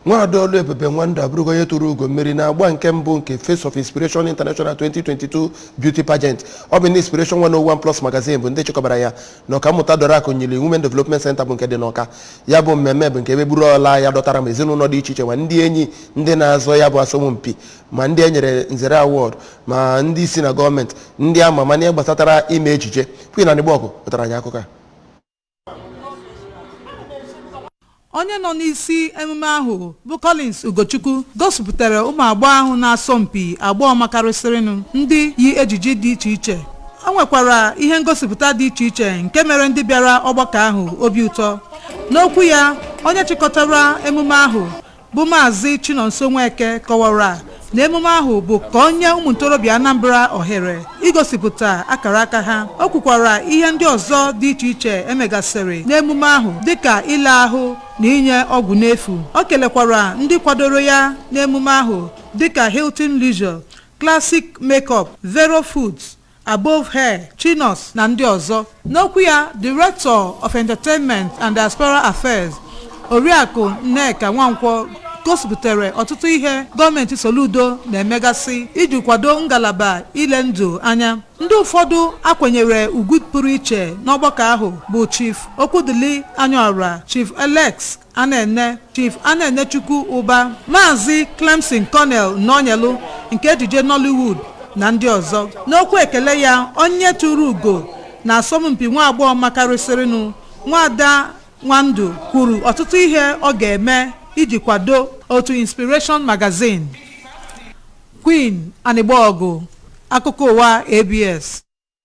nwaada ọlụebube nwandụ abụrụgo onye tụrụ ugo mmeri na agba nke mbụ nke face of inspiration international 2022 beauty pageant ọ bụ ndị inspiration 101 plus magazine bụ ndị chịkọbara ya na ọkammụta dora akunyili women development center bụ nke dị n'ọka ya bụ mmemme bụ nke ebe buru ọla ya dọtara ma ezinụlọ dị iche iche ma ndị enyi ndị na-azọ ya bụ asọmpi ma ndị e nyere nzere award ma ndị isi na gọọmenti ndị a ma ama na ihe gbasatara ime ejije queen anịgbọgụ wetara anyị akụkọ a onye nọ n'isi emume ahụ bụ Collins Ugochukwu gosipụtara ụmụ agbọghọ ahụ na-asọ mpi agbọghọ makarịsịrịnụ ndị yi ejiji dị iche iche o nwekwara ihe ngosipụta dị iche iche nke mere ndị bịara ọgbakọ ahụ obi ụtọ n'okwu ya onye chịkọtara emume ahụ bụ Maazị Chinonso Nweke kọwara na emume ahụ bụ ka ọ nye ụmụ ntorobịa Anambra ohere igosipụta akara aka ha o kwukwara ihe ndị ọzọ dị iche iche e megasịrị n'emume ahụ dịka ile ahụ na inye ọgwụ n'efu o kelekwara ndị kwadoro ya n'emume ahụ dịka Hilton Leisure, Classic Makeup, Vero Foods Above Hair, Chinos na ndị ọzọ. N'okwu ya, Director of Entertainment and Diaspora Affairs, Oriakụ Nneka Nwankwo gosipụtara ọtụtụ ihe gọọmenti Soludo na-emegasị iji kwado ngalaba ile ndụ anya. Ndị ụfọdụ a kwanyere ugwu pụrụ iche n'ọgbakọ ahụ bụ Chief Okwudili Anyaọra, Chief Alex Anene Chief Anenechukwu Ụba, Maazị Clemson Cornell Nọnyelụ nke ejije Nollywood na ndị ọzọ. N'okwu ekele ya, onye tụrụ ugo na asọmpi nwa agbọghọ makarịsịrịnụ, Nwaada Nwandụ kwuru ọtụtụ ihe ọ ga-eme iji kwado otu Inspiration Magazine. Queen Anịgbọgụ, Akụkọ Ụwa ABS.